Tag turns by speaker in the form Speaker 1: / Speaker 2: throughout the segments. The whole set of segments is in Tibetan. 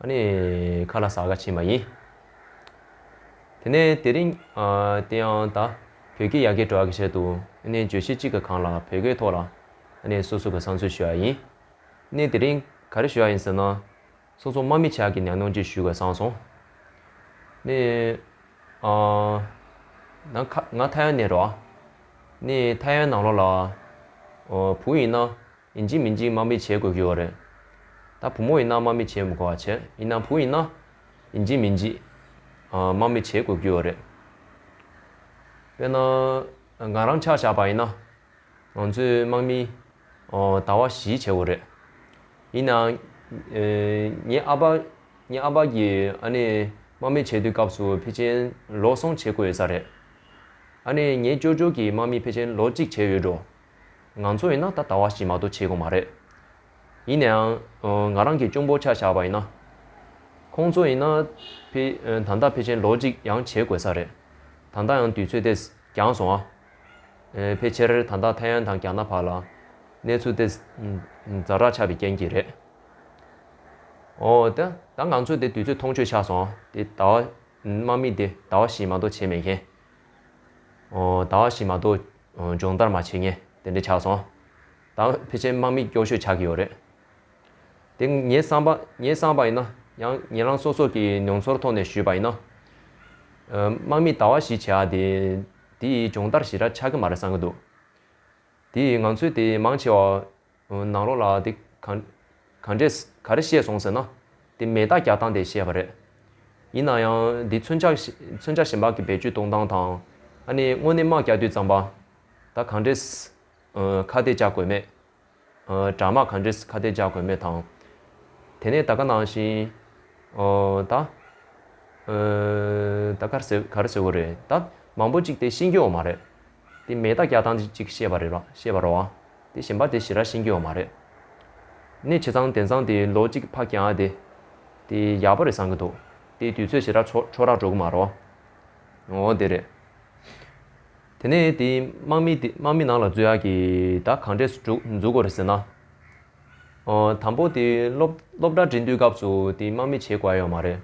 Speaker 1: ཨ་ནི་ཁ་ལ་ཟ་ག་བྱེད་མ་ཡིན། དེ་ནས་དེ་རིང། དེ་ཡང་ད། བོད་སྐད་ཡག་གེ་འགྲོ་ག་བྱས་འདུག་ཨ་ནི་བརྗོད་གཞི་གཅིག་ག་གང་ལ་བོད་སྐད་ཐོག་ལ། ཨ་ནི་སོ་སོ་ག་བསང་ཚུལ་ཞུ་ཡ་ཡིན། ནི་དེ་རིང་ག་རེ་ཞུ་ཡ་ཡིན་ཟེར་ན། སོ་སོ་མ་མི་ཆག་གི་ནས་ནོངས་ཅིག་ཞུ་ག་བསང་སོང། ནི། ནང་ཁ་ང་ཐ་ཡ་ནས་རོགས། ནི་ཐ་ཡ་ནང་ལོགས་ལ། བུ་ཡིན་ན། ཡིན་གཅིག་མིན་གཅིག་དམག་མི་བྱེད་དགོས་ཀྱི་ཡོད་རེད། ད་བུ་མོ་ཡིན་ན་དམག་མི་བྱེད་མི་དགོས་བ་བྱས་ཡིན་ན་བུ་ཡིན་ན། ཡིན་གཅིག་མིན་གཅིག། དམག་མི་བྱེད་དགོས་ཀྱི་ཡོད་རེད། དཔེར་ན། ང་རང་ཆག་བཞག་པ་ཡིན་ན། ང་ཚོས་དམག་མི། ཟླ་བ་བཞི་བྱེད་དགོས་རེད། ཡིན་ནའང། ངའི་ཨ་ཕ། ངའི་ཨ་ཕ་གི་ཨ་ནེ། དམག་མི་བྱེད་དུས་སྐབས་སུ་ཕལ་ཆེན་ལོ་གསུམ་བྱེད་དགོས་ཡོད་ས་རེད། ཨ་ནེ་ངའི་ཅོ་ཅོ་གིས་དམག་མི་ཕལ་ཆེན་ལོ་གཅིག་བྱས་ཡོད་འགྲོ། ང་ཚོ་ཡིན་ན་ད་ལྟ་བ་བཞིན་མ་གཏོགས་བྱེད་དགོས་མ་རེད། ཡིན་ནའང། ང་རང་གིས་གཅུང་པོ་ཆ་བཞག་པ་ཡིན་ན། ཁོང་ཚོ་ཡིན་ན། ད་ལྟ་ཕལ་ཆེར་ལོ་གཅིག་ཡང་བྱེད་དགོས་ས་རེད། ད་ལྟ་ཡང་དུས་ཚོད་དེས་འགྱངས་སོང་ཨ། ཕལ་ཆེར་ད་ལྟ་ཐའེ་ཡན་དང་རྒྱ་ནག་བར་ལ། གནས་ཚུལ་དེ། རྫ་དྲག་ཆགས་པའི་རྐྱེན་གྱིས་རེད། ཨོ། ད་ང་ཚོས་དེ་དུས་ཚོད་མཐོང་ཆོས་ཆགས་སོང་ཨ། དེ་ད་བ། དམག་མི་དེ་ད་བ་བཞིན་མ་གཏོགས་བྱེད་མེད་མཁན། ཨོ། ད་བ་བཞིན་མ་གཏོགས། སྦྱོང་བརྡར་མ་བྱེད་ངས་དེ་འདྲ་ཆགས་སོང། ད་འོན་ཕལ་ཆེར་དམག་མིས་སྐྱོ་ཤོས་ཆགས་ཀྱི་ཡོད་རེད་དེ། ངས་བསམ་པ་ངས་བསམ་པ་ཡིན་ན་ཡང་ངེད་རང་སོ་སོ་གྱི་མྱོང་ཚོར་ཐོག་ནས་ཞུས་པ་ཡིན་ན། དམག་མིས་ཟླ་བ་བཞི་བྱས་ཨ་དེ་དེ་ཡིས་སྦྱོང་བརྡར་ཞེ་དྲག་ཆགས་ཀྱི་མ་རེད་བསམ་གྱི་འདུག་དེ་ཡིས་ང་ཚོས་དེ་མང་ཆེ་བ། ནང་རོགས་ལགས་འདི་གང་འདྲས་ག་རེ་བཤད་སོང་ཟེར་ན། འདི་མེ་སྟག་རྒྱག་སྟངས་དེ་བཤད་པ་རེད། ཡིན་ན་ཡང་འདི་མཚོན་ཆ་མཚོན་ཆ་གཞན་པག་གི་བེད་སྤྱོད་གཏོང་སྟངས་དང། ཨ་ནི་དངོས་གནས་དམག་རྒྱག་དུས་ཙམ་པ། ད་གང་འདྲས་ཁ་གཏད་རྒྱག་དགོས་མེད། དྲག་དམག་གང་འདྲས་ཁ་གཏད་རྒྱག་དགོས་མེད་དང། དེ་ནས་ད་ག་ནང་བཞིན། ད། ད་ག་རེ་ཟེར་གོ་རེད་ད། མང་པོ་གཅིག་དེ་ཤི་འགྱོ་བ་མ་རེད། དེ་མེད་ད་སྐྱག་ཐང་ཅིག་བཤད་པ་རེད་རོ། བཤད་པ་རོ། དེ་ཞེན་པ་དེ་ཞེ་ར་ཤིན་གྱི་ཡོག་མ་རེད། ནས་ཆེ་ཚང་དེ་ཚང་དེ་ལོ་གཅིག་ཕ་གྱང་དེ། དེ་ཡག་པོ་རེད་བསམ་གྱི་འདུག་དེ་དུས་ཚོད་ཞེ་ར་ཆོ་ཆོ་རག་འགྲོ་གི་མ་རོ། འོ་དེ་རེད། དེ་ནས་དེ་དམག་མི་དེ་དམག་མི་ནང་ལ་འཛུལ་ཡག་གི་ད་གང་འདྲས་སུ་འགྲུག་འཛུག་གོ་རེད་ཟེར་ན། འོ་དང་པོ་དེ་སློབ་སློབ་གྲ་འབྲི་འདུས་སྐབས་སུ་དེ་དམག་མི་བྱེད་དགོས་ཡོག་མ་རེད།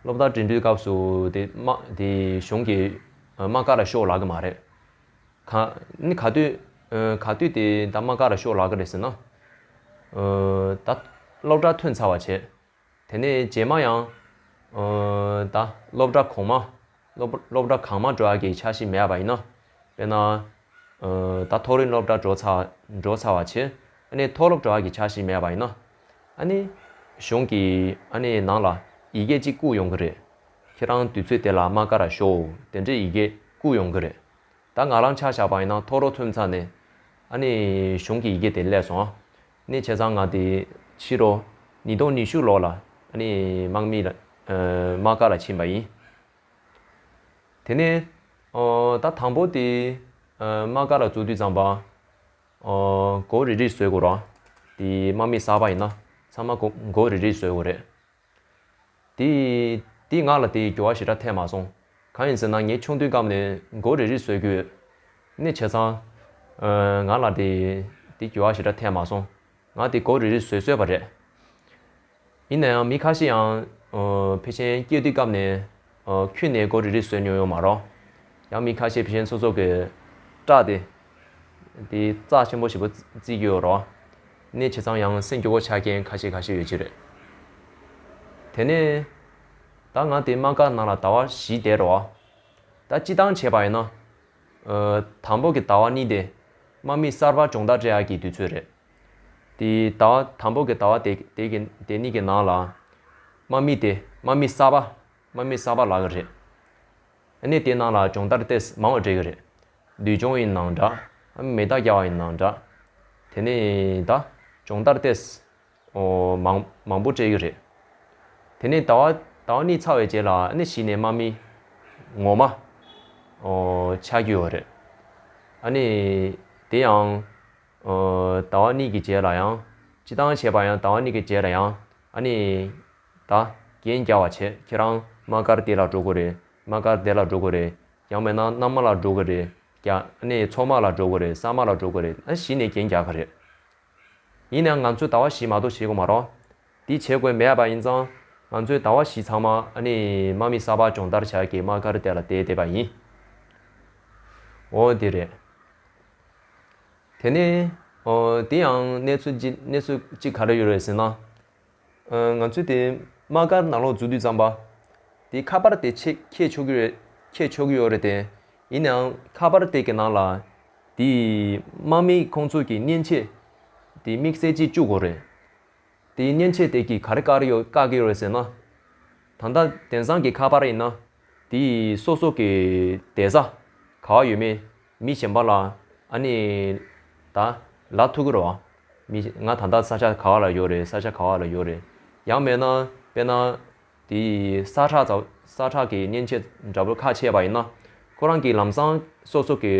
Speaker 1: སློབ་གྲ་འབྲི་འདུས་སྐབས་སུ་དེ་དམག་དེ་གཞུང་གི་མ་དཀར་ར་ཤོག་ལགས་མ་རེད། གནི་ག་དུས། ག་དུས་དེ་ད་མ་དཀར་ར་ཤོག་ལགས་རེད་ཟེར་ན། ད། སློབ་གྲྭ་ཐོན་ཚར་བ་བྱས། དེ་ནས་རྗེས་མ་ཡང། ད་སློབ་གྲྭ་གོང་མ། སློབ་གྲྭ་གང་མ་འགྲོ་ཡ་གི་ཆ་ཞིག་མེད་པ་ཡིན་ན། དཔེར་ན། ད་མཐོ་རིམ་སློབ་གྲྭ་འགྲོ་ཚར་བ་བྱས། གནི་མཐོ་སློབ་འགྲོ་ཡ་གི་ཆ་ཞིག་མེད་པ་ཡིན་ན། ཨ་ནི། གཞུང་གི་ཨ་ནི་ནང་ལ་ཡི་གེ་གཅིག་བཀུག་ཡོང་གི་རེད། ཁྱེད་རང་དུས་ཚོད་དེ་ལ་མ་དགའ་ར་ཤོག་དེ་འདྲའི་ཡི་གེ་བཀུག་ཡོང་གི་རེད། ད་ང་རང་ཆ་བཞག་པ་ཡིན་ན་ཐོག་རོ་ཐུམ་ཚར་ནས། ཨ་ནི། གཞུང་གི་ཡི་གེ་དེ་བསླད་སོང་ཨ་ནི་བྱས་ཙང་ང་དེ་ཕྱི་རོ། ཉིས་སྟོང་ཉི་ཤུ་ལོར་ལ་ཨ་ནི་དམག་མི། དམག་སྒར་ལ་ཕྱིན་པ་ཡིན། དེ་ནས། ད་དང་པོ་དེ། དམག་སྒར་ལ་འཛུལ་དུས་ཙང་པ། མགོ་རིལ་རིལ་བཟོས་དགོས་རོ། དེ་དམག་མི་གསར་པ་ཡིན་ན་ཚང་མ་མགོ་རིལ་རིལ་བཟོས་དགོས་རེད། དེ་དེ་ང་ལ་དེའི་འགྱུར་བ་ཞེ་དྲག་ཐེབས་མ་སོང། གང་ཡིན་ཟེར་ན་ངས་ཆུང་དུས་སྐབས་ནས་མགོ་རིལ་རིལ་བཟོས་རྒྱུ་ཡོད། ནི་བྱས་ཙང། ང་ལ་དེའི་འགྱུར་བ་ཞེ་དྲག་ཐེབས་མ་སོང། ང་དེ་མགོ་རིལ་རིལ་བཟོས་བཟོས་པ་རེད། ཡིན་ན་ཡང་མི་ཁ་ཤས་ཡང་བེ་ཆེན་སྐྱེས་དུས་སྐབས་ནས་ཁྱུ་ནད་སྐོར་རེ་རེ་བཟོས་མྱོང་ཡོད་མ་རོགས། ཡང་མི་ཁ་ཤས་བེ་ཆེན་ཚོ་ཚོགས་ཀྱི་སྐྲག་སྟེ། དེ་རྩ་ཆེན་པོ་ཞིག་པོ་བརྩིས་ཀྱི་ཡོད་རོགས། ནད་ཆེ་ཚང་ཡང་སེམས་སྐྱོ་བོ་ཆགས་མཁན་ཁ་ཤས་ཁ་ཤས་ཡོད་ཀྱི་རེད། དེ་ནས། ད་ང་དེ་མ་འགག་ནང་ལ་ཟླ་བ་བཞི་བསྡད་རོགས། ད་སྤྱི་བཏང་བྱས་པ་ཡིན་ན། དང་པོ་གི་ཟླ་བ་གཉིས་དེ་དམག་མི་གསར་པ་སྦྱོང་བརྡར་སྤྲད་ཡག་གི་དུས་ཚོད་རེད། དེའི་ཟླ་བ་དང་པོ་གྱི་ཟླ་བ་དེ་དེ་གི་དེ་གཉིས་ཀྱི་ནང་ལ། དམག་མི་དེ་དམག་མི་གསར་པ་དམག་མི་གསར་པ་ལགས་ཀྱི་རེད། གནས་དེ་ནང་ལ་སྦྱོང་བརྡར་ལྟས་མང་བ་འགྲིག་གི་རེད། འདུལ་སྦྱོང་ཡིན་ནང་འདྲ། མེ་རྟ་རྒྱག་བ་ཡིན་ནང་འདྲ། དེ་ནས་ད། སྦྱོང་བརྡར་ལྟས། ཨོ། མང་མང་པོ་སྤྲད་ཀྱི་རེད། དེ་ནས་ཟླ་བ་ཟླ་བ་གཉིས་ཚར་བའི་རྗེས་ལ་ཨ་ནི་གཞི་ནས་དམག་མི། ངོ་མ། ཨོ། ཆགས་རྒྱུ་ཡོད་རེད། ཨ་ནི། དེ་ཡང། ཟླ་བ་གཉིས་ཀྱི་རྗེས་ལ་ཡང། ཅི་དང་བྱས་པ་ཡང་ཟླ་བ་གཉིས་ཀྱི་རྗེས་ལ་ཡང། ཨ་ནི། ད། རྒྱན་བསྐྱལ་བར་བྱེད་ཁྱེད་རང་དམག་སྒར་དེ་ལ་འགྲོ་དགོས་རེད་དམག་སྒར་དེ་ལ་འགྲོ་དགོས་རེད། ཡང་མེད་ན་མནའ་མ་ལ་འགྲོ་དགོས་རེད་རྒྱ། ཨ་ནི་མཚོ་དམག་ལ་འགྲོ་དགོས་རེད་ས་དམག་ལ་འགྲོ་དགོས་རེད་ཨ་ནི་གཞི་ནས་རྒྱན་བསྐྱལ་ག་རེད། ཡིན་ནའང་ང་ཚོས་ཟླ་བ་བཞི་མ་གཏོགས་བྱེད་དགོས་མ་རོགས། འདི་བྱེད་དགོས་མེད་པ་ཡིན་ཙང། ང་ཚོའི་ཟླ་བ་བཞི་ཚང་མ་ཨ་ནི་དམག་མི་གསར་པ་སྦྱོང་བརྡར་བྱ་གི་དམག་སྒར་དེ་ལ་བསྡད་བསྡད་པ་ཡིན། འོ་དེ་རེད། དེ་ནི། འོ་དེ་ཡང་གནས་ཚུལ་གཅིག་གནས་ཚུལ་གཅིག་ག་རེ་ཡོད་རེད་ཟེར་ན། ང་ཚོའི་དེ་དམག་སྒར་ནང་ལོག་འཛུལ་དུས་ཙམ་པ། དེ་ཁ་པར་དེ་ཆེད་ཁྱེར་ཆོག་གི་རེད་ཁྱེར་ཆོག་གི་ཡོད་རེད་དེ། ཡིན་ནའང་ཁ་པར་དེ་གི་ནང་ལ། དེའི་དམག་མི་ཁོང་ཚོ་གི་མཉེན་ཆས་དེ་དམིགས་བསལ་གཅིག་བཅུག་གོ་རེད། དེའི་མཉེན་ཆས་དེ་གིས་ག་རེ་བཀག་ཡོད་བཀག་གི་ཡོད་ཟེར་ན། ད་ལྟ་དེང་སང་གི་ཁ་པར་ཡིན་ན། དེ་ཡིས་སོ་སོ་གི་དེ་ཟ་ག་བ་ཡོད་མེད་མི་གཞན་པ་ལ་ཨ་ནི་ད་ལ་ཐུག་གི་རོ། མི་ང་ད་ལྟ་ས་ཆ་ག་བ་ལ་ཡོད་རེད་ས་ཆ་ག་བ་ལ་ཡོད་རེད། ཡང་མེད་ན་དཔེར་ན། དེ་ཡིས་ས་ཁྲག་ས་ཁྲག་གི་གཉན་ཆས་འདྲ་པོ་ཁ་ཕྱེས་པ་ཡིན་ན། ཁོ་རང་གིས་ལམ་སང་སོ་སོ་གི་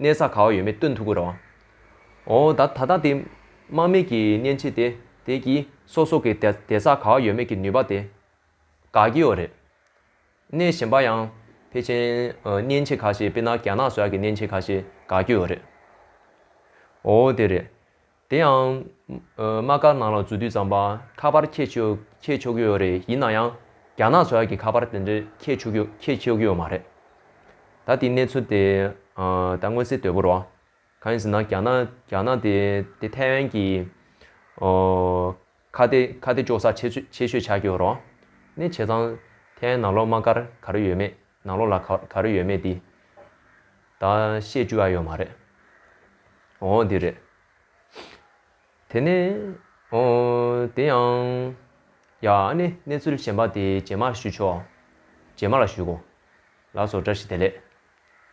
Speaker 1: གནས་ས་ག་བ་ཡོད་མེད་སྟོན་ཐུབ་ཀི་རོ། འོ་ད་ད་ལྟ་དེ་དམག་མི་གི་གཉན་ཆས་དེ་དེ་གིས་སོ་སོ་གི་དེ་ས་ག་བ་ཡོད་མེད་ཀི་ནུས་པ་དེ་ག་གི་ཡོད་རེད། གནས་གཞན་པ་ཡང་ཕལ་ཆེན་གཉན་ཆས་ག་ཤེས་དཔེར་ན་རྒྱ་ནག་སོགས་ཀྱི་གཉན་ཆས་ག་ཤེས་ག་གི་ཡོད་རེད། འོ་དེ་རེད། དེ་ཡང། དམག་སྒར་ནང་ལ་འཛུལ་དུས་ཙམ་པར་ཁ་པར་ཁྱེར་ཆོག་གི་ཡོད་རེད་ཡིན་ན་ཡང། རྒྱ་ནག་ཚོའི་ཁ་པར་དེ་འདྲའི་ཁྱེར་ཆོག་གི་ཡོད་མ་རེད། ད་དེའི་གནས་ཚུལ་དེ་ད་མངོན་གསལ་དོད་པོ་རོ། གང་ཡིན་ཟེར་ན་རྒྱ་ནག་དེ་ཐའེ་ཝན་གྱི། ཁ་བདེ་ཁ་བདེ་ཅོག་ཙག་ཆེ་ཆེ་ཤོས་ཆགས་ཀྱི་རོགས་ནི་བྱས་ཙང་ཐའི་ནང་ལོག་དམག་སྒར་ག་རེ་ཡོད་མེད་ནང་ལོག་ལ་ག་རེ་ཡོད་མེད་འདི་ད་བཤད་བཅུ་ཨ་ཡོད་མ་རེད་འོ་འོ་འདི་རེད་དེ་ནས་འོ་འོ་དེ་ཡང་ཡ་ཨ་ནི་གནས་ཚུལ་གཞན་པ་དེ་རྗེས་མར་ཞུ་ཆོག་རྗེས་མ་ལ་ཞུ་གོ་ལགས་སོ་བཀྲ་ཤིས་བདེ་ལེགས།